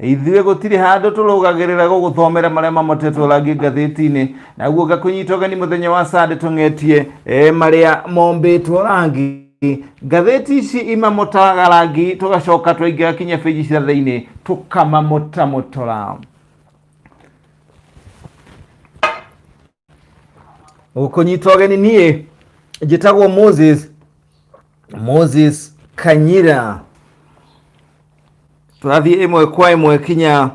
Ithuĩ gũtirĩ handũ tũrũgagĩrĩra gũgũthomera marĩa mamotetwo rangi ngathĩti-inĩ naguo ngakũnyita ũgeni mũthenya wa sande tũng'etie eh, marĩa mombĩtwo rangi ngathĩti ici imamotaga rangi tũgacoka twaingĩra kinya bĩji cia thĩinĩ tũkamamotamotora gũkũnyita ũgeni niĩ njĩtagwo moses moses kanyira tũrathiĩ ĩmwe kwa ĩmwe kinya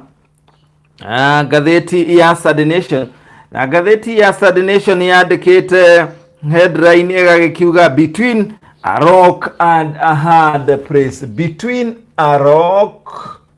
ah, ngathĩti ya Saturday Nation na ngathĩti ya Saturday Nation yandĩkĩte headline ĩgagĩkiuga between a rock and a hard place between a rock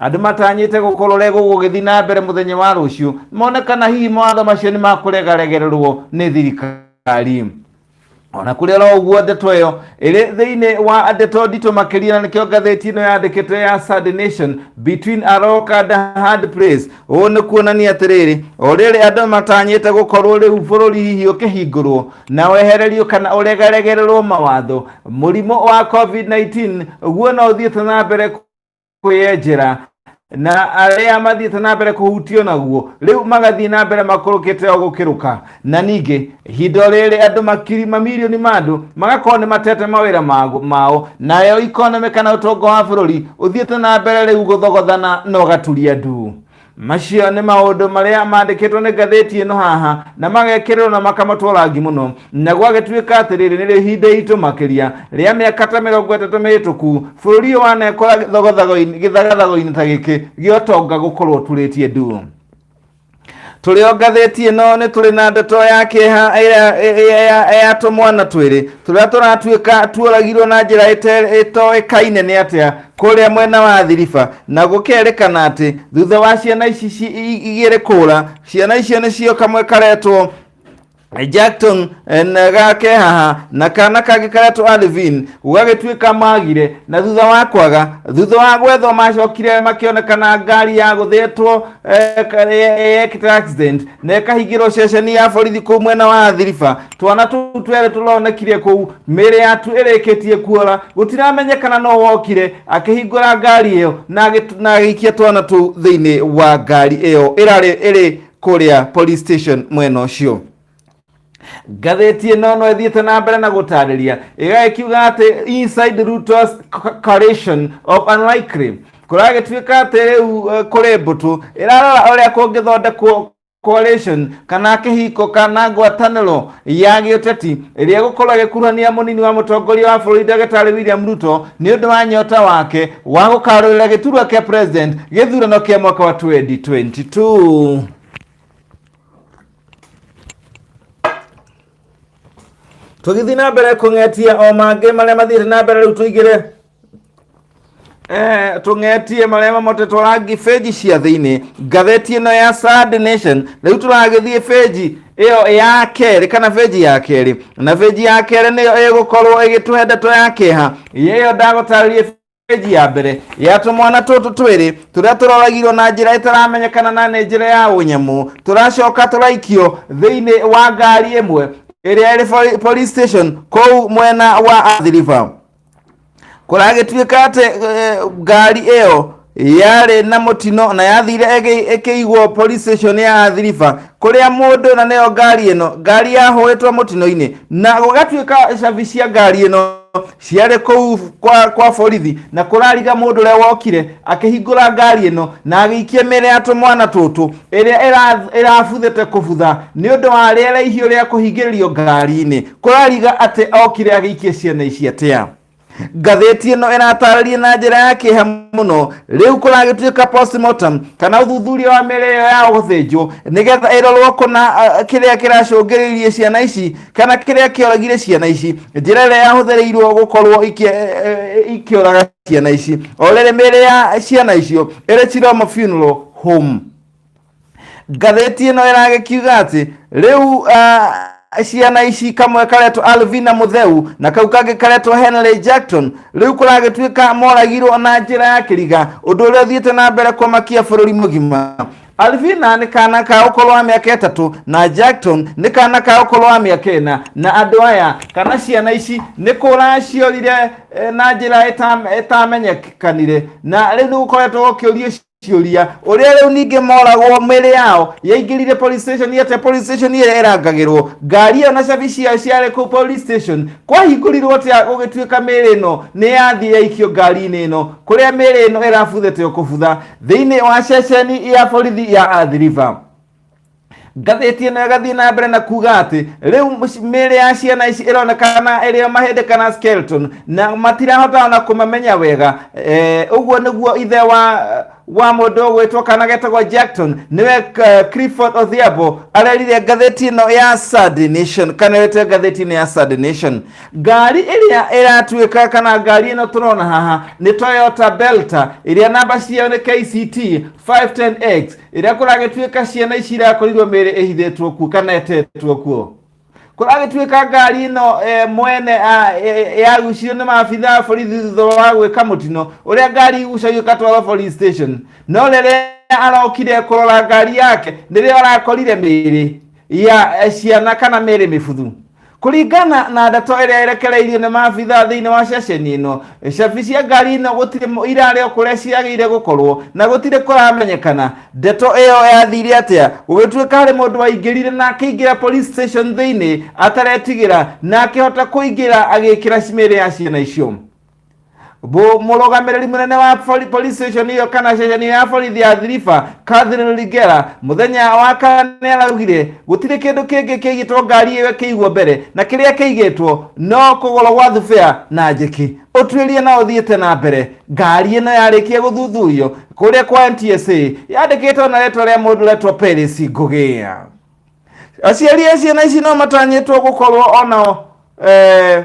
Andũ matanyĩte gũkorore gũgũgĩthiĩ na mbere mũthenya wa rũciũ mone kana hihi mawatho macio nĩ makũregaregererwo nĩ thirikari ona kũrĩ oro ũguo ndeto ĩyo ĩrĩ thĩinĩ wa ndeto nditũ makĩria na nĩkĩo ngathĩti ĩno yandĩkĩtwo ya Sunday Nation between a rock and a hard place ũũ nĩ kuonania atĩrĩrĩ o rĩrĩ andũ matanyĩte gũkorwo rĩu bũrũri hihi ũkĩhingũrwo na wehererio kana ũregaregererwo mawatho mũrimũ wa covid-19 guo no ũthiĩte na mbere kwĩyenjera na arĩa mathiĩte na mbere kũhutio naguo rĩu magathiĩ na mbere makũrũkĩte o gũkĩrũka na ningĩ ihinda rĩrĩ andũ makiri mamirioni ma andũ magakorwo nĩ matete mawĩra mago- mao nayo ikonomi kana ũtonga wa bũrũri ũthiĩte na mbere rĩu gũthogothana na ũgaturia ndu macio nĩ maũndũ marĩa mandĩkĩtwo nĩ ngathĩti ĩno haha na magekĩrĩrwo na makamatwo rangi mũno na gwagĩtuĩka atĩ rĩrĩ nĩrĩo ihinda itũ makĩria rĩa mĩaka ta mĩrongo ĩtatũ mĩhĩtũku bũrũri ũyũ wanekora gĩthogathago-inĩ- gĩthagathago-inĩ ta gĩkĩ gĩa ũtonga gũkorwo turĩtie ndu tũrĩ o ngathĩti ĩno nĩ tũrĩ na ndeto ya kĩeha ĩrĩa- ĩrĩa ya- ya tũmwana twĩrĩ tũrĩa tũratuĩka tuoragirwo na njĩra ĩte- ĩtoĩkaine nĩ atĩa kũrĩa mwena wa thiriba na gũkerĩkana atĩ thutha wa ciana ici ci- i- igĩrĩ kũra ciana icio nĩcio kamwe karetwo Jackton eh, na gake haha na kana kangĩ karetwo Alvin gũgagĩtuĩka magire na thutha wa kwaga thutha wa gwethwo macokire makĩonekana ngari ya gũthĩtwo eh, ka- eh, eh, accident na ĩkahingĩrwo ceceni ya borithi kũu mwena wa Thiriba twana tũu twerĩ tũronekire kũu mĩĩrĩ yatu ĩrĩkĩtie kuora gũtiramenyekana no wokire akĩhingũra ngari ĩyo na agĩt- na agĩikia twana tũu thĩinĩ wa ngari ĩyo ĩrarĩ ĩrĩ kũrĩa police station mwena ũcio ngathĩti ĩno no ĩthiĩte na mbere na gũtarĩria ĩgagĩkiuga atĩ inside Ruto's co- coalition of unlikely kũragĩtuĩka atĩ rĩu eh, kũrĩ mbũtũ ĩrarora ũrĩa kũngĩthondekwo coalition kana kĩhiko kana ngwatanĩro ya gĩũteti ĩrĩa gũkorwo ĩgĩkuruhania mũnini wa mũtongoria wa bũrũri ndagĩtarĩ William Ruto nĩ ũndũ wa nyota wake wa gũkarũrĩra gĩturwa kĩa president gĩthurano kĩa mwaka wa 2022 tũgithiĩ na mbere kũng'etia o mangĩ marĩa mathiĩte na mbere rĩu tũigĩre Eh, tũng'etie marĩa mamotetwo rangi benji cia thĩinĩ ngatheti ĩno ya Sad Nation rĩu tũragĩthiĩ benji ĩyo ya kerĩ kana benji ya kerĩ na benji ya kerĩ nĩyo ĩgũkorwo ĩgĩtũhe ndeto ya kĩeha ĩyo ndagũtarĩrie benji ya mbere ya tũmwana tũtũ twĩrĩ tũrĩa tũroragirwo na njĩra ĩtaramenyekana na nĩ njĩra ya ũnyamũ tũracoka tũraikio thĩinĩ wa ngari ĩmwe ĩrĩa ĩrĩ poli- police station kũu mwena wa Athi River kũragĩtuĩka atĩ eh, ngari ĩyo yarĩ na mũtino na yathire ĩgĩ- ĩkĩigwo police station ya athiriba kũrĩa mũndũ na nĩyo ngari ĩno ngari yahũĩtwo mũtino-inĩ na gũgatuĩka cabi cia ngari ĩno ciarĩ kũu kwa, kwa borithi na kũrariga mũndũ ũrĩa wokire akĩhingũra ngari ĩno na agĩikia mĩrĩ ya tũmwana tũtũ ĩrĩa ĩra- ĩrabuthĩte kũbutha nĩ ũndũ wa rĩera ihiũ rĩa kũhingĩrĩrio ngari-inĩ kũrariga atĩ okire agĩikie ciana ici atĩa ngathĩti ĩno ĩratarĩria na njĩra ya kĩeha mũno rĩu kũragĩtuĩka postmortem kana ũthuthuria wa mĩrĩ ĩyo ya gũthĩnjwo nĩgetha ĩrorwo kũna uh, kĩrĩa kĩracũngĩrĩirie ciana ici kana kĩrĩa kĩoragire ciana ici njĩra ĩrĩa yahũthĩrĩirwo gũkorwo ikĩ- eh, eh, ikĩũraga ciana ici o rĩrĩ mĩrĩ ya ciana icio ĩrĩ Chiromo funeral home ngathĩti ĩno ĩragĩkiuga atĩ rĩu uh, ciana ici kamwe karetwo alvina mutheu na kau kangĩ karetwo henry jackson rĩu kũragĩtuĩka moragirwo na njĩra ya kĩriga ũndũ ũrĩa ũthiĩte na mbere kwamakia bũrũri mũgima alvina nĩ kana ka ũkũrũ wa mĩaka ĩtatũ na jackson nĩ kana ka ũkũrũ wa mĩaka ĩna na andũ aya kana ciana ici nĩ kũra ciorire eh, na njĩra ĩtam- ĩtamenyekanire na rĩu nĩ gũkoretwo gũkĩũrio ciũria ũrĩa rĩu ningĩ moragwo mĩrĩ yao yaingĩrire police station ĩte police station ĩrĩa ĩrangagĩrwo ngari ĩyo na cabi ciayo ciarĩ kũu police station kwahingũrirwo atĩa gũgĩtuĩka mĩrĩ ĩno nĩ yathiĩ yaikio ngari-inĩ ĩno kũrĩa mĩrĩ ĩno ĩrabuthĩte o kũbutha thĩinĩ wa ceceni ya borithi ya Athi River ngathĩti ĩno ĩgathiĩ na mbere na kuga atĩ rĩu mũci- mĩĩrĩ ya ciana ici ĩronekana ĩrĩ o mahĩndĩ kana skeleton na matirahota ona kũmamenya wega Eh, ũguo nĩguo ithe wa wa mũndũ ũgwĩtwo kana getagwo jackton nĩwe eh, clifford odhiambo arerire ngathĩti ĩno ya sad nation kana ĩte ngathĩti-inĩ ya sad nation ngari ĩrĩa ĩratuĩka kana ngari ĩno tũrona haha nĩ toyota belta ĩrĩa namba ciayo nĩ kct 510x rĩrĩa kũragĩtuĩka ciana ici irakorirwo mĩĩrĩ ĩhithĩtwo kuo kana etetwo kuo kũragĩtuĩka ngari ĩno eh, mwene ah, eh, yagucirio nĩ maabitha a borithi thutha wa gwĩka mũtino ũrĩa ngari igucagio ĩgatwarwo police station no rĩrĩa arokire kũrora ngari yake nĩrĩo arakorire mĩĩrĩ ya eh, ciana kana mĩĩrĩ mĩbuthu kũringana na ndeto ĩrĩa ĩrekereirio nĩ maabitha thĩinĩ wa ceceni ĩno cabi cia ngari ĩno gũtirĩ mũ- irarĩ o kũrĩa ciagĩire gũkorwo na gũtirĩ kũramenyekana ndeto ĩyo yathire atĩa gũgĩtuĩka harĩ mũndũ waingĩrire na akĩingĩra police station thĩinĩ ataretigĩra na akĩhota kũingĩra agĩkĩra mĩĩrĩ ya ciana icio Bu- mũrũgamĩrĩri mũnene wa bori- police station ĩyo kana ceceni ya borithi ya thiriba Catherine Ligera mũthenya wa kana nĩ araugire gũtirĩ kĩndũ kĩngĩ kĩigĩtwo ngari ĩyo kĩigwo mbere na kĩrĩa kĩigĩtwo no kũgũrwo gwa thubea na njĩki ũtuĩria no ũthiĩte na mbere ngari ĩno yarĩkia gũthuthurio kũrĩa kwa NTSA yandĩkĩtwo na rĩtwa rĩa mũndũ retwo Peris Ngũgĩ aciari a ciana ici no matanyĩtwo gũkorwo onao eh,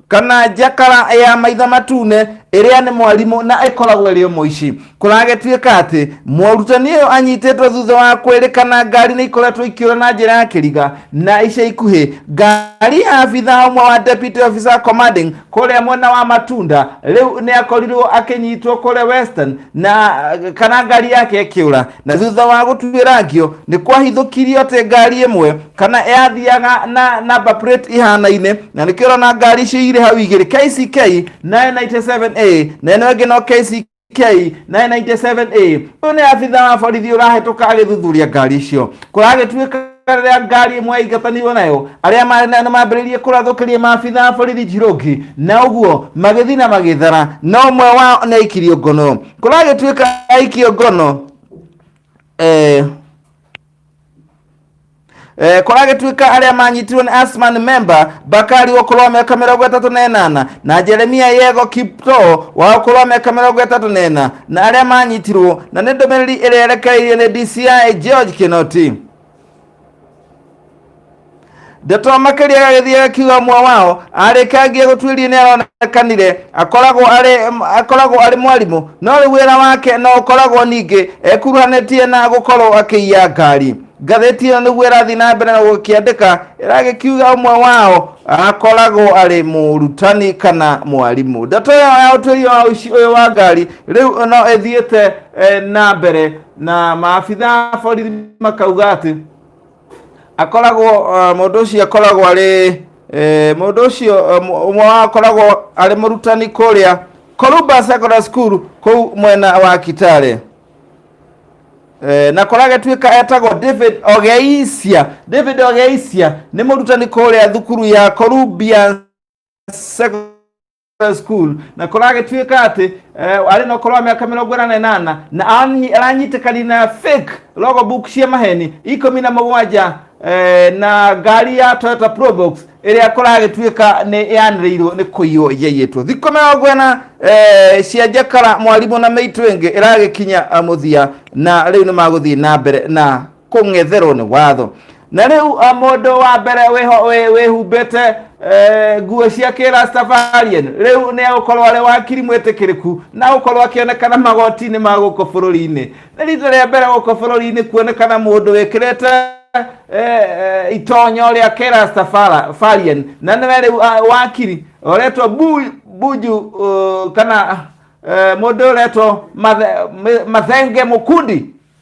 kana njakara ya maitha matune ĩrĩa nĩ mwarimũ na ĩkoragwo ĩrĩ mũici kũragĩtuĩka atĩ mũrutani ũyũ anyitĩtwo thutha wa kwĩrĩkana ngari nĩ ikoretwo ikĩũra na njĩra ya kĩriga na ica ikuhĩ ngari ya abitha ũmwe wa deputy officer commanding kũrĩa mwena wa matunda rĩu nĩ akorirwo akĩnyitwo kũrĩa western na kana ngari yake ĩkĩũra na thutha wa gũtuĩrangio nĩ kwahithũkirio atĩ ngari ĩmwe kana yathiaga na namba plate ihanaine na nĩkĩo ũrona ngari icio irĩ hau igĩrĩ KCK 997A na ĩno ĩngĩ no KCK K 997A ũyũ nĩ abitha wa borithi ũrahĩtũka agĩthuthuria ngari icio kũragĩtuĩka rĩrĩa ngari ĩmwe yaingatanirwo nayo arĩa marĩ nayo nĩ mambĩrĩirie kũrathũkĩria maabitha a borithi njirũngi na ũguo magĩthiĩ na magĩthara na ũmwe wao nĩ aikirio ngono kũragĩtuĩka aikio ngono eh, Eh, kũragĩtuĩka arĩa manyitirwo nĩ asman member bakari ũkũrũ wa mĩaka mĩrongo ĩtatũ na ĩnana na jeremia yego kipto wa ũkũrũ wa mĩaka mĩrongo ĩtatũ na ĩna na arĩa manyitirwo na nĩ ndũmĩrĩri ĩrĩa ĩrekereirio nĩ dci george kinoti ndeto makĩria gagĩthiĩ gakiuga mwa wao arĩkangie gũtuĩria nĩ aronekanire akoragwo arĩ akoragwo arĩ mwarimũ no rĩu wĩra wake no ũkoragwo ningĩ ekuruhanĩtie na gũkorwo akĩiya ngari ngathĩti ĩyo nĩguo ĩrathiĩ na mbere na gũkĩandĩka ĩragĩkiuga ũmwe wao akoragwo arĩ mũrutani kana mwarimũ ndeto ĩyo ya ũtuĩria wa ũici ũyũ wa ngari rĩu no ĩthiĩte eh, na mbere na maabitha a borithi makauga atĩ akoragwo eh, mũndũ ũcio akoragwo arĩ eh, mũndũ ũcio eh, mũ- ũmwe wao akoragwo arĩ mũrutani kũrĩa Koruba Secondary School kũu mwena wa Kitale Eh, na kora gatuĩka etagwo david ogeisia david ogeisia nĩ mũrutani kũrĩa thukuru ya columbia Sec- High school na kuragituika ati eh, ari no korwa miaka mirongo ina na inana na anyi- aranyitĩkani na fake logo book cia maheni ikũmi na mũgwanja eh, na ngari ya Toyota Probox ĩrĩa kũragĩtuĩka nĩ yanĩrĩirwo nĩ kũiywo yaiyĩtwo thikũ mĩrongo ĩna eh, cia njakara mwarimũ na mĩitũ ĩngĩ ĩragĩkinya ah, mũthia na rĩu nĩ magũthiĩ na mbere na kũng'etherwo nĩ watho na rĩu a, mũndũ wa mbere wĩho- wĩ- wĩhumbĩte eh, nguo cia kĩrastafarian rĩu nĩ agũkorwo arĩ wakiri mwĩtĩkĩrĩku na gũkorwo akĩonekana magoti-inĩ ma gũkũ bũrũri-inĩ nĩ rita rĩa mbere gũkũ bũrũri-inĩ kuonekana mũndũ wĩkĩrĩte eh, eh, itonyo rĩa kĩrastafarian na nĩwe rĩu ah, wakiri ũretwo Bu- buju uh, kana eh, mũndũ ũretwo Mathe- Mathenge Mukundi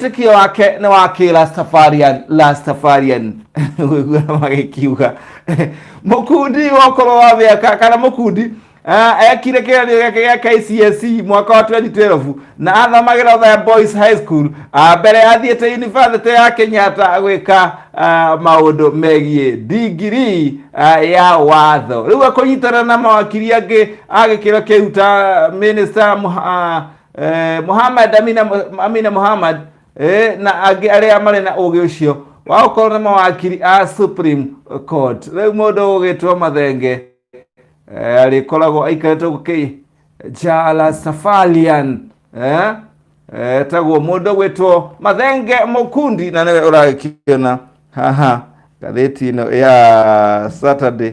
wĩtĩkio wake nĩ wa kĩrastafarian rastafarian ũguo magĩkiuga mũkundi wokorwo wa mĩaka kana mũkundi ah, ekire kĩgeranio gĩake gĩa KCSE mwaka wa 2012 na athamagĩra Othaya Boys High School ah, mbere athiĩte yunibacĩtĩ ya Kenyatta gwĩka ah, maũndũ megiĩ ndigiri ah, ya watho rĩu akũnyitana na mawakiri angĩ a gĩkĩro kĩu ta mĩnĩsta eh, Muhammad Amina, Amina Muhammad eh, na angĩ arĩa marĩ na ũgĩ ũcio wa gũkorwo nĩ mawakiri a Supreme Court rĩu mũndũ ũgĩtwo mathenge eh, arĩkoragwo aikarĩte gũkĩ Jala Safalian eh, eh, taguo mũndũ ũgwĩtwo mathenge mũkundi na nĩwe ũragĩkiona haha ngathĩti ĩno ya Saturday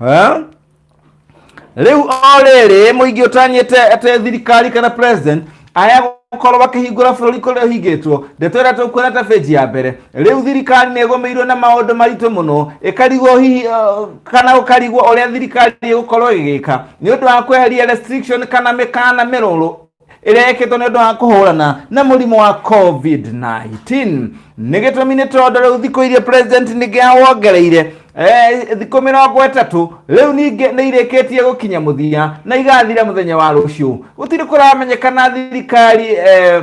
Eh? rĩu o rĩrĩ mũingĩ ũtanyĩte atĩ thirikari kana president aya gũkorwo makĩhingũra bũrũri kũrĩa ũhingĩtwo ndeto ĩrĩa tũkuona ta benji ya mbere rĩu thirikari nĩ ĩgũmĩirwo na maũndũ maritũ mũno ĩkarigwo hihi uh, kana ũkarigwo ũrĩa thirikari ĩgũkorwo ĩgĩka nĩ ũndũ wa kweheria restriction kana mĩkana mĩrũrũ ĩrĩa yekĩtwo nĩ ũndũ wa kũhũrana na mũrimũ wa covid-19 nĩ gĩtũmi nĩ tondũ rĩu thikũ iria president ningĩ awongereire eh, thikũ mĩrongo ĩtatũ rĩu ningĩ nĩ irĩkĩtie gũkinya mũthia na igathira mũthenya wa rũciũ gũtirĩ kũramenyekana thirikari eh,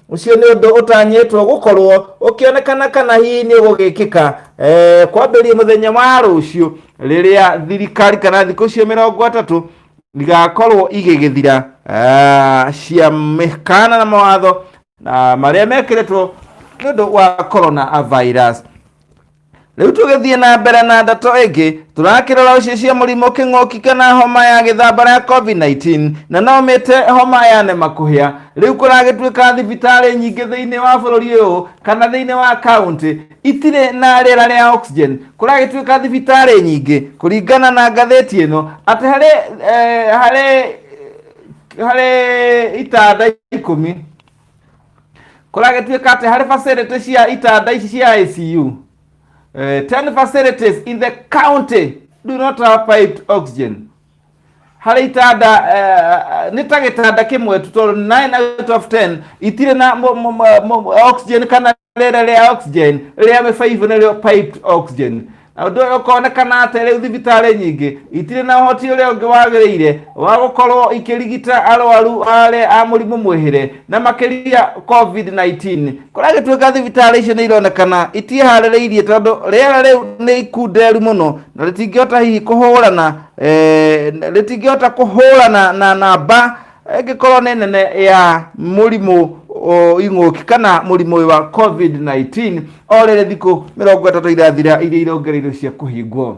ũcio nĩ ũndũ ũtanyĩtwo gũkorwo ũkĩonekana kana hihi nĩ ũgũgĩkĩka eh, kwambĩrĩria mũthenya wa rũciũ rĩrĩa thirikari kana thikũ cio mĩrongo atatũ igakorwo igĩgĩthira ah, cia mĩkana na mawatho na marĩa mekĩrĩtwo nĩ ũndũ wa corona virus Rĩu tũgĩthiĩ na mbere na ndeto ĩngĩ, tũrakĩrora ũcio cia mũrimũ kĩng'ũki kana homa ya gĩthambara ya COVID-19 na no mĩte homa ya nemakũhĩa. Rĩu kũragĩtuĩka thibitarĩ nyingĩ thĩinĩ wa bũrũri ũyũ kana thĩinĩ wa kaunti itirĩ na rĩera rĩa oxygen. Kũragĩtuĩka thibitarĩ nyingĩ kũringana na ngathĩti ĩno atĩ harĩ, eh, harĩ, harĩ itanda ikũmi kũragĩtuĩka atĩ harĩ facility cia itanda ici cia ICU eh, 10 facilities in the county do not have piped oxygen harĩ itanda eh, nĩ ta gĩtanda kĩmwe tu tondũ 9 out of 10 itirĩ na mo- mo- mo- mo- oxygen kana rĩera rĩa oxygen rĩa mĩbaibũ nĩrĩo piped oxygen na ũndũ ũyũ ũkonekana atĩ rĩu thibitarĩ nyingĩ itirĩ na ũhoti ũrĩa ũngĩ wagĩrĩire wa gũkorwo ikĩrigita arwaru arĩa a mũrimũ mwĩhĩre na makĩria covid-19 kũrĩa gĩtuĩka thibitarĩ icio nĩ ironekana itieharĩrĩirie tondũ rĩera rĩu nĩ ikunderu mũno na rĩtingĩhota hihi kũhũrana eh, rĩtingĩhota kũhũrana na namba ĩngĩkorwo nĩ nene ya mũrimũ o, ing'ũki kana mũrimũ ũyũ wa covid-19 o rĩrĩ thikũ mĩrongo ĩtatũ irathira iria irongereirwo cia kũhingwo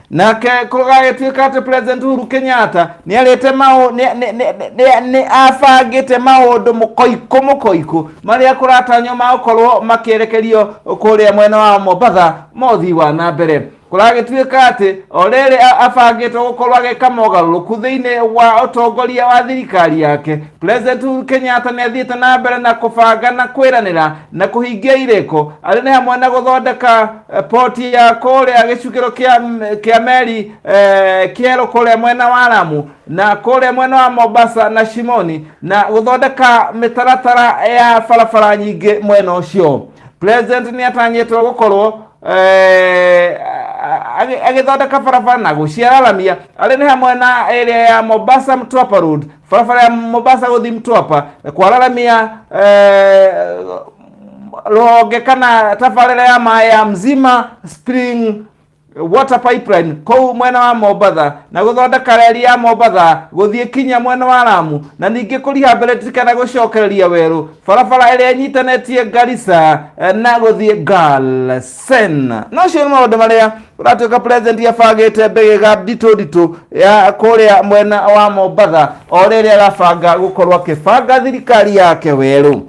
nake kũgagĩtuĩka atĩ president uhuru kenyatta nĩ arĩte maũ nĩ- nĩ- nĩ- nĩ- nĩ abangĩte maũndũ mũkoikũ mũkoikũ marĩa kũratanywo magũkorwo makĩerekerio kũrĩa mwena wa mombatha ma ũthii wa na mbere kũragĩtuĩka atĩ o rĩrĩ a- abangĩte gũkorwo agĩka mogarũrũku thĩinĩ wa ũtongoria wa thirikari yake president Uhuru Kenyatta nĩ athiĩte na mbere na kũbanga na kwĩranĩra na kũhingia irĩko arĩ nĩ hamwe na gũthondeka eh, poti ya kũrĩa gĩcukĩro kĩa m- kĩa meri eh, kĩerũ kũrĩa mwena wa Lamu na kũrĩa mwena wa Mombasa na Shimoni na gũthondeka mĩtaratara ya barabara nyingĩ mwena ũcio president nĩ atanyĩtwo gũkorwo eh, a- agĩ- agĩthondeka barabara na gũciararamia arĩ nĩ hamwe na ĩrĩa ya mombasa mtwapa road barabara ya mombasa gũthiĩ mtwapa kwararamia eh, rũhonge kana tabarĩra ya maĩ ya mzima spring water pipeline kũu mwena wa mombatha na gũthondeka reri ya mombatha gũthiĩ kinya mwena wa ramu na ningĩ kũriha mbereti kana gũcokereria werũ barabara ĩrĩa ĩnyitanĩtie garisa eh, na gũthiĩ galsen na ũcio nĩ maũndũ marĩa ũratuĩka president abangĩte mbĩgĩga nditũ nditũ ya kũrĩa mwena wa mombatha o rĩrĩa arabanga gũkorwo akĩbanga thirikari yake werũ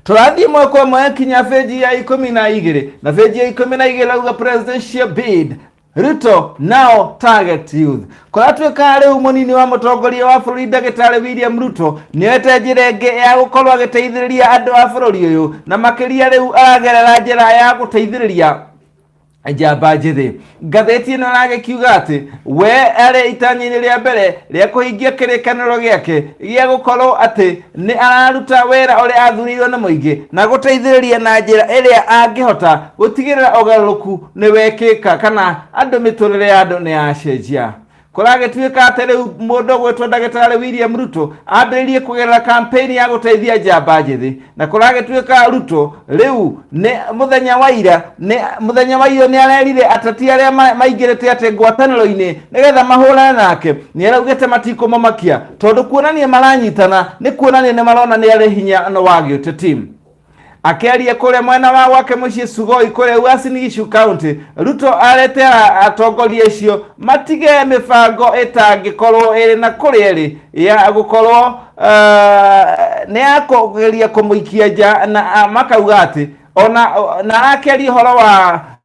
turathiĩ mwaka ũmwe yakinya benji ya ikũmi na igĩrĩ na benji ya ikũmi na igĩrĩ rauga presidential bid ruto now target youth kũratuĩka rĩu mũnini wa mũtongoria wa bũrũri ndagĩtarĩ william ruto nĩoete njĩra ĩngĩ ya gũkorwo agĩteithĩrĩria andũ a bũrũri ũyũ na makĩria rĩu aragerera njĩra ya gũteithĩrĩria njamba njĩthĩ ngathĩti ĩno ĩragĩkiuga atĩ we arĩ itanya-inĩ rĩa mbere rĩa kũhingia kĩrĩkanĩro gĩake gĩa gũkorwo atĩ nĩ araruta wĩra ũrĩa athurirwo nĩ mũingĩ na gũteithĩrĩria na njĩra ĩrĩa angĩhota gũtigĩrĩra ũgarũrũku nĩ wekĩka kana andũ mĩtũrĩre ya andũ nĩ yacenjia kũragĩtuĩka atĩ rĩu mũndũ ũgwĩtwo ndagĩtarĩ william ruto ambĩrĩrie kũgerera kampeni ya gũteithia njamba njĩthĩ na kũragĩtuĩka ruto rĩu nĩ mũthenya wa ira nĩ mũthenya wa ira nĩ arerire ateti arĩa ma- maingĩrĩte atĩ ngwatanĩro-inĩ nĩgetha mahũrane nake nĩ araugĩte matikũmamakia tondũ kuonania maranyitana nĩ kuonania nĩ marona nĩ arĩ hinya na wa gĩũteti Akĩaria kũrĩa mwena wa gwake mũciĩ Sugoi kũrĩa Uasin Gishu County, Ruto arete a- atongoria acio matige mĩbango ĩtangĩkorwo ĩrĩ na kũrĩa ĩrĩ ya gũkorwo uh, nĩ ya kũgeria kũmũikia nja na ah, makauga atĩ ona na akeria ũhoro wa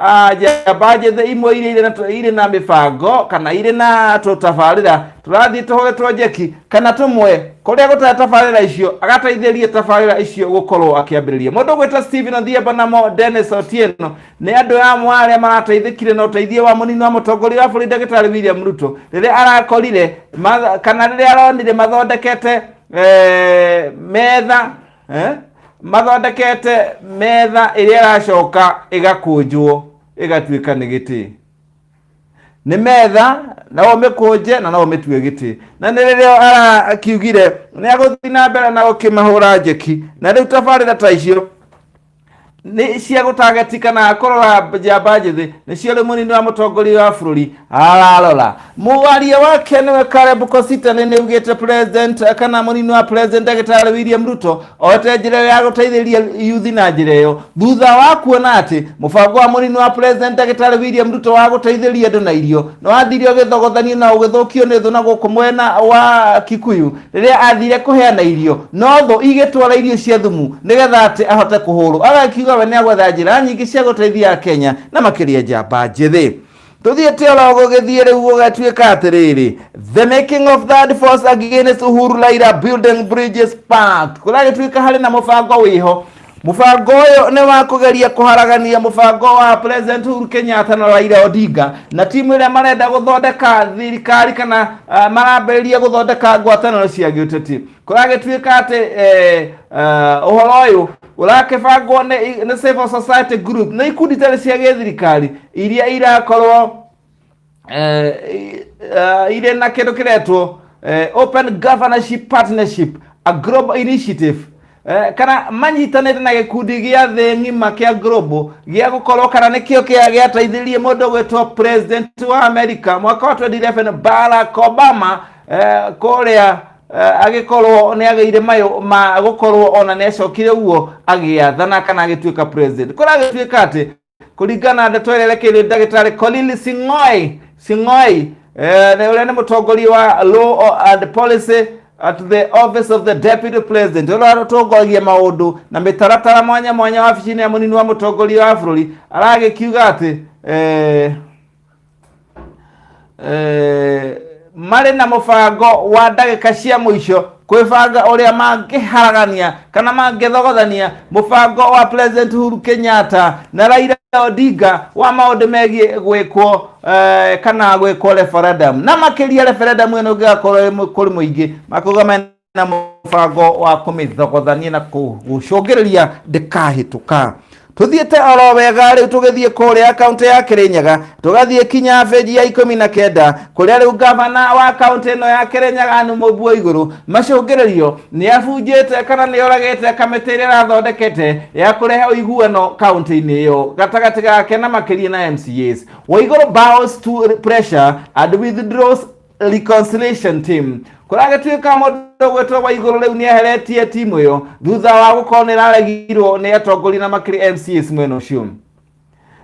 Ah, njamba njĩthĩ imwe irĩa irĩ na tũ- irĩ na mĩbango kana irĩ na tũtabarĩra tũrathiĩ tũhũre twenjeki kana tũmwe kũrĩa gũtarĩ tabarĩra icio agateithĩrie tabarĩra icio gũkorwo akĩambĩrĩria mũndũ gwĩta Steven Odhiambo namo Dennis Otieno nĩ andũ amwe arĩa marateithĩkire na ũteithio wa mũnini wa mũtongoria wa bũrũri ndagĩtarĩ William Ruto rĩrĩa arakorire matha- kana rĩrĩa aronire mathondekete eh, metha eh? mathondekete metha ĩrĩa ĩracoka ĩgakũnjwo ĩgatuĩka nĩ gĩtĩ nĩ metha na ũmĩkũnje na no ũmĩtue gĩtĩ na nĩ rĩrĩa arakiugire nĩ agũthiĩ na mbere na gũkĩmahũra njeki na rĩu tabarĩra ta icio nĩ cia gũtagetika na akorora njamba njĩthĩ nĩcio rĩu mũnini wa mũtongoria wa bũrũri ararora mũwaria wake nĩwe Caleb Kositany nĩaugĩte president kana mũnini wa president ndagĩtarĩ William Ruto ote njĩra ĩyo ya gũteithĩrĩria yuthi na njĩra ĩyo thutha wa kuona atĩ mũbango wa mũnini wa president ndagĩtarĩ William Ruto wa gũteithĩrĩria andũ na irio nĩwathirio gĩthogothanio na ũgĩthũkio nĩ thũ na gũkũ mwena wa Kikuyu rĩrĩa athire kũheana irio no thũ igĩtwara irio cia thumu nĩgetha atĩ ahote kũhũrwo agakiuga we nĩ agwetha njĩra nyingĩ cia gũteithia akenya na makĩria njamba njĩthĩ tuthiĩte oro gũgĩthiĩ rĩu gũgatuĩka atĩrĩrĩ the making of that force against uhuru laira building bridges path kũragĩtuĩka harĩ na mũbango wĩho Mũbango ũyũ nĩ wa kũgeria kũharagania mũbango wa President Uhuru Kenyatta na Raila Odinga na timu ĩrĩa marenda gũthondeka thirikari kana uh, marambĩrĩria gũthondeka ngwatanĩro cia gĩũteti kũragĩtuĩka atĩ eh, uh, ũhoro ũyũ ũrakĩbangwo nĩ nĩ civil society group na ikundi itarĩ cia gĩthirikari iria irakorwo eh, eh, irĩ na kĩndũ kĩretwo eh, open governorship partnership a global initiative eh, kana manyitanĩte na gĩkundi gĩa thĩ ng'ima kĩa global gĩa gũkorwo kana nĩkĩo kĩa gĩateithirie mũndũ gwĩtwo president wa america mwaka wa 2011 barack obama eh, kũrĩa eh, agĩkorwo nĩ agĩire mayũ ma gũkorwo ona nĩ acokire guo agĩathana kana agĩtuĩka president kũrĩa agĩtuĩka atĩ kũringana na ndeto ĩrĩa ĩrekeire ndagĩtarĩ Colin Sing'oi Sing'oi eh, na ũrĩa nĩ mũtongoria wa Law and Policy at the office of the deputy president ũrĩa ũratongoragia maũndũ na mĩtaratara mwanya mwanya wabici-inĩ ya mũnini wa mũtongoria wa bũrũri aragĩkiuga atĩ eh, Eh, marĩ na mũbango wa ndagĩka cia mũico kwĩbanga ũrĩa mangĩharagania kana mangĩthogothania mũbango wa president Uhuru Kenyatta na Raila Odinga wa maũndũ megiĩ gwĩkwo eh, kana gwĩkwo referendum na makĩria referendum ĩno ĩngĩgakorwo ĩrĩ mũ- kũrĩ mũingĩ makuga mena na mũbango wa kũmĩthogothania na kũgucũngĩrĩria ndĩkahĩtũka tuthiĩte oro wega rĩu tũgĩthiĩ kũrĩa kaunti ya kĩrĩnyaga tũgathiĩ kinya benji ya ikũmi na kenda kũrĩa rĩu gavana wa kaunti ĩno ya kĩrĩnyaga anu mũbuo igũrũ macũngĩrĩrio nĩ abunjĩte kana nĩ oragĩte kamĩtĩ ĩrĩa ĩrathondekete ya kũrehe ũiguano kaunti-inĩ ĩyo gatagatĩ gake na makĩria na mcas waigũrũ bows to pressure and withdraws reconciliation team kuragituika mundu gwetwo wa iguru riu ni eheretie timu iyo thutha wa gukorwo ni raregirwo ni atongori na makiri mcs mwena ucio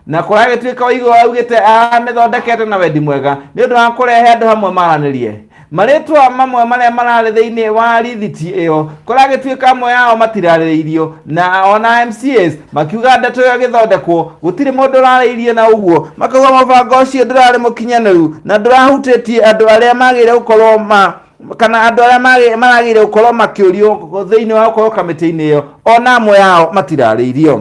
na kuragituika wa iguru augite amithondekete na wendi mwega ni undu wa kurehe andu hamwe maranirie maritwa mamwe maria marari thiini wa rithiti iyo kũragĩtuĩka amwe ao matirarĩrĩirio na ona MCAs makiuga ndeto ĩyo ĩgĩthondekwo gũtirĩ mũndũ ũrarĩirie na ũguo makauga mũbango ũcio ndũrarĩ mũkinyanĩru na ndũrahutĩtie andũ arĩa magĩrĩire gũkorwo ma kana andũ arĩa magĩ- maragĩrĩire gũkorwo makĩũrio thĩinĩ wa gũkorwo kamĩtĩ-inĩ ĩyo ona amwe ao matirarĩirio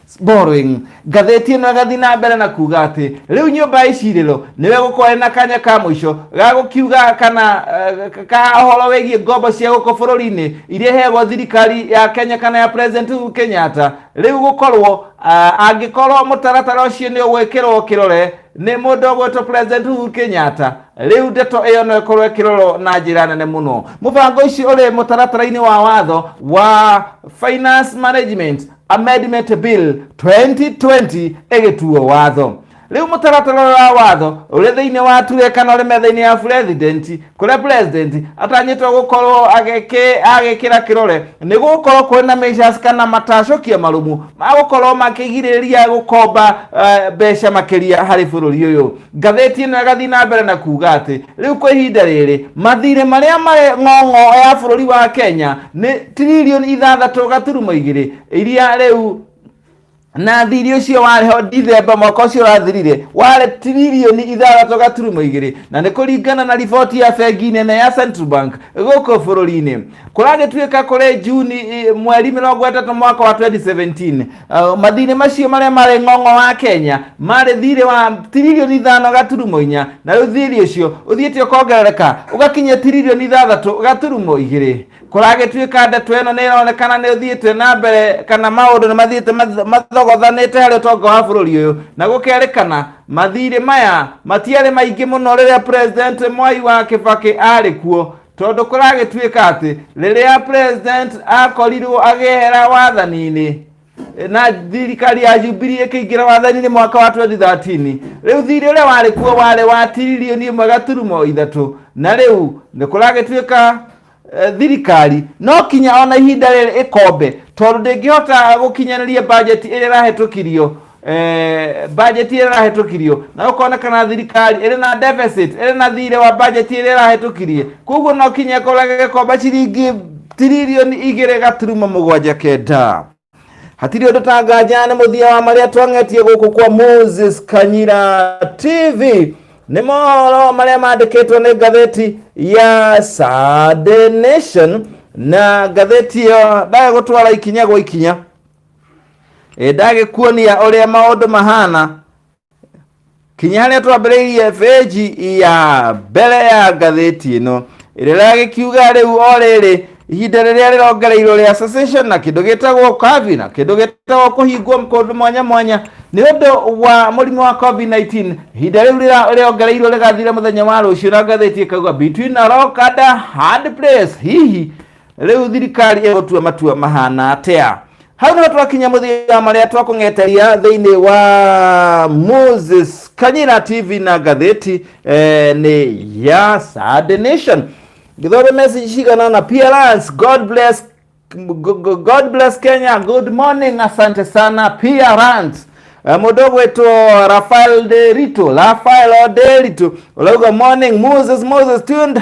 Borrowing. Ngathĩti ĩno ĩgathiĩ na mbere na kuga atĩ rĩu nyũmba ya icirĩro nĩwe gũkorwo na kanya ka mũico ga gũkiuga kana eh, ka ũhoro wĩgiĩ ngombo cia gũkũ bũrũri-inĩ iria iheagwo thirikari ya Kenya kana ya President Uhuru Kenyatta rĩu gũkorwo ah, angĩkorwo mũtaratara ũcio nĩ ũgwĩkĩrwo kĩrore nĩ mũndũ ũgwĩtwo President Uhuru Kenyatta rĩu ndeto ĩyo no ĩkorwo ĩkĩrorwo na njĩra nene mũno mũbango ũcio ũrĩ mũtaratara-inĩ wa watho wa finance management amendment bill 2020 ĩgĩtuo watho rĩu mũtaratara ũyũ wa watho ũrĩ thĩinĩ wa ture kana ũrĩ metha-inĩ ya president kũrĩa president atanyĩtwo gũkorwo agĩkĩ- agĩkĩra kĩrore nĩ gũkorwo kũrĩ na measures kana matacũkia marũmu ma gũkorwo makĩgirĩrĩria gũkomba eh, mbeca makĩria harĩ bũrũri ũyũ Ngathĩti ĩno ĩgathiĩ na mbere na kuuga atĩ rĩu kwa ihinda rĩrĩ mathirĩ marĩa marĩ ng'ong'o ya bũrũri wa Kenya nĩ tiririoni ithathatũ gaturumo igĩrĩ iria rĩu na thirĩ ũcio warĩ ho Dithemba mwaka ũcio ũrathirire warĩ tiririoni ithathatũ gaturumo igĩrĩ na nĩ kũringana na riboti ya bengi nene ya Central Bank gũkũ bũrũri-inĩ kũragĩtuĩka kũrĩ Juni mweri mĩrongo ĩtatũ mwaka wa 2017 Uh, mathirĩ macio marĩa marĩ ng'ong'o wa kenya marĩ thirĩ wa tiririoni ithano gaturumo inya na rĩu thirĩ ũcio ũthiĩte ũkongerereka ũgakinya tiririoni ithathatũ gaturumo igĩrĩ kũragĩtuĩka ndeto ĩno nĩ ĩronekana nĩ ũthiĩte na mbere kana maũndũ nĩ mathiĩte math- mathogothanĩte harĩ ũtonga wa bũrũri ũyũ na gũkerĩkana mathirĩ maya matiarĩ maingĩ mũno rĩrĩa president mwai wa kĩbakĩ arĩ kuo Tondũ kũragĩtuĩka atĩ rĩrĩa president akorirwo agĩehera wathani-inĩ na thirikari ya Jubilee ĩkĩingĩra wathani-inĩ mwaka wa 2013 rĩu thirĩ ũrĩa warĩ kuo warĩ wa tiririoni ĩmwe gaturumo ithatũ na rĩu nĩ kũragĩtuĩka eh, thirikari no kinya ona ihinda rĩrĩ ĩkombe tondũ ndĩngĩhota gũkinyanĩria bajeti ĩrĩa ĩrahĩtũkirio eh, bajeti ĩrĩa ĩrahĩtũkirio na ũkonekana thirikari ĩrĩ na deficit ĩrĩ na thirĩ wa bajeti ĩrĩa ĩrahĩtũkirie koguo no kinya ĩkorage gĩkomba ciringi tiririoni igĩrĩ gaturuma mũgwanja kenda hatirĩ ũndũ tanganjana nĩ mũthia wa marĩa twang'etie gũkũ kwa moses kanyira tv nĩ mohoro marĩa mandĩkĩtwo nĩ ngatheti ya Sunday nation na ngatheti ĩyo ndagagũtwara ikinya gwa ikinya ĩ ndagĩkuonia ũrĩa maũndũ mahana kinya harĩa twambĩrĩirie bĩnji ya mbere ya ngathĩti ĩno ĩrĩa ragĩkiuga rĩu o rĩrĩ ihinda rĩrĩa rĩrongereirwo rĩa cessation na kĩndũ gĩtagwo kavi na kĩndũ gĩtagwo kũhingwo kũndũ mwanya mwanya nĩ ũndũ wa mũrimũ wa covid-19 ihinda rĩu rĩra- rĩrongereirwo rĩgathira mũthenya wa rũciũ na ngathĩti ĩkauga between a rock and a hard place hihi rĩu thirikari ĩgũtua matua mahana atĩa hau nĩho twakinya mũthia wa marĩa twakũng'eteria thĩinĩ wa moses kanyira tv na ngathĩti eh, nĩ ya Saturday nation gĩthore message cigana na plans god bless Go- go- god bless kenya good morning asante sana plans Eh, mũndũ ũgwĩtwo rafael de rito rafael de rito ũrauga morning moses moses tuned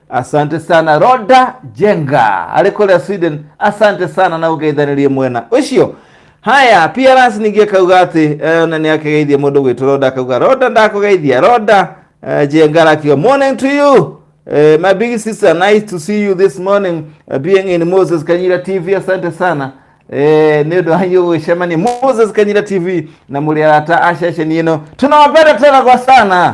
asante sana roda jenga arĩ kũrĩa sweden asante sana na ũgeithanirie mwena ũcio haya prns ningĩ akauga atĩ eh, na nĩ akĩgeithia mũndũ gwĩtũ roda akauga roda ndakũgeithia roda eh, jenga arakiuga morning to you Eh, my big sister nice to see you this morning uh, being in moses kanyira tv asante sana Eh, nä å ndå wanyu gå cemania moses kanyira tv na må rä arata aceceni ä no tå nawapenda tena kwa sana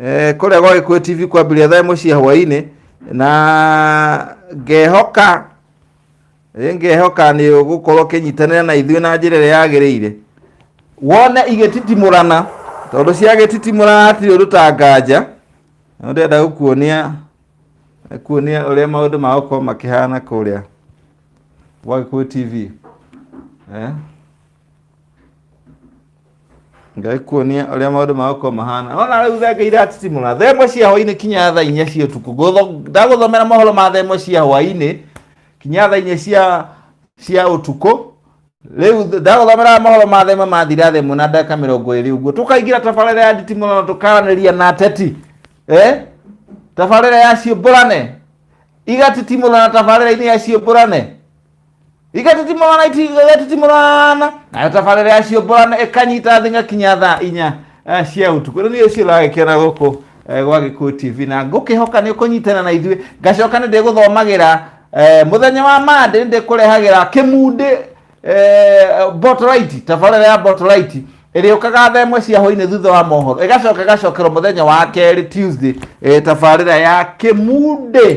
Eh, kũrĩa gwa gĩkũyũ tv kwambĩrĩria thaa ĩmwe cia hwaĩ-inĩ na ngehoka eh, ngehoka nĩ ũgũkorwo ũkĩnyitanĩra na ithuĩ na njĩra ĩrĩa yagĩrĩire wone igĩtitimũrana tondũ ciagĩtitimũrana hatirĩ ũndũ ta nganja na ndĩrenda gũkuonia kuonia ũrĩa maũndũ magũkorwo makĩhana kũrĩa gwa gĩkũyũ tv eh? ngai kuonia ũrĩa maũndũ magũkorwo mahana nona rĩu thenga iratitimũra thaa ĩmwe cia hwainĩ kinya thaa inya cia ũtukũ Ngũtho- ndagũthomera mohoro ma thaa ĩmwe cia hwainĩ kinya thaa inya cia cia ũtukũ rĩu th- ndagũthomera mohoro ma thaa ĩmwe mathira thaa ĩmwe na ndagĩka mĩrongo ĩrĩ ũguo tũkaingĩra tabarĩra ya nditimũra na tũkaranĩria na ateti eh? tabarĩra ya ciũmbũrane igatitimũra na tabarĩra-inĩ ya ciũmbũrane igatitimũrana igatitimũrana nayo tabarĩra yacio mborana ĩkanyita thĩ ngakinya thaa inya eh, cia ũtukũ rĩu nĩ ũcio ũragĩkĩona gũkũ eh, gwa gĩkuũ tv na ngũkĩhoka nĩ ũkũnyitana na ithuĩ ngacoka nĩ ndĩgũthomagĩra eh, mũthenya wa mande nĩ ndĩkũrehagĩra kĩmundĩ eh, botolaiti tabarĩra ya botolaiti ĩrĩũkaga thaa ĩmwe cia hwainĩ thutha wa mohoro ĩgacoka ĩgacokerwo mũthenya wa kerĩ tuesday eh, tabarĩra ya kĩmundĩ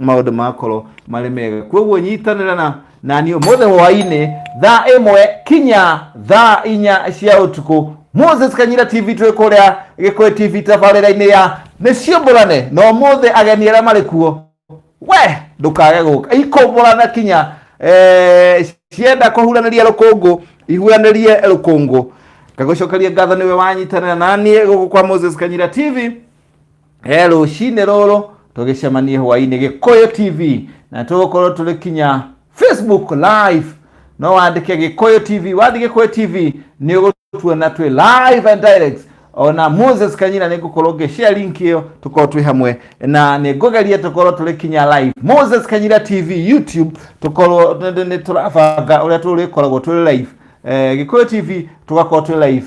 maundu makorwo marĩ mega kwoguo nyitanĩra na nani ũmũthĩ hwainĩ thaa ĩmwe kinya thaa inya cia ũtukũ moses kanyira tv twĩ kũrĩa gĩkũyũ tv tabarĩra-inĩ ya nĩ ciũmbũrane na ũmũthĩ ageni arĩa marĩ kuo we ndũkage gũka ikũmbũrana kinya eh, cienda kũhuranĩria rũkũngũ ihuranĩrie rũkũngũ ngagũcokeria ngatho nĩwe wanyitanĩra naniĩ gũkũ kwa moses kanyira tv he rũcinĩ rũrũ tũgĩcemanie hwainĩ gĩkũyũ tv na tũgũkorwo tũrĩ kinya facebook live no wandĩke gĩkũyũ tv wathiĩ gĩkũyũ tv nĩ ũgũtuona twĩ live and direct ona moses kanyina nĩ ngũkorwo ngĩshare link ĩyo tũkorwo twĩ hamwe na nĩ ngũgeria tũkorwo tũrĩ kinya live moses kanyina tv youtube tũkorwo nĩ tũrabanga ũrĩa tũrĩkoragwo tũrĩ live eh, gĩkũyũ tv tũgakorwo twĩ live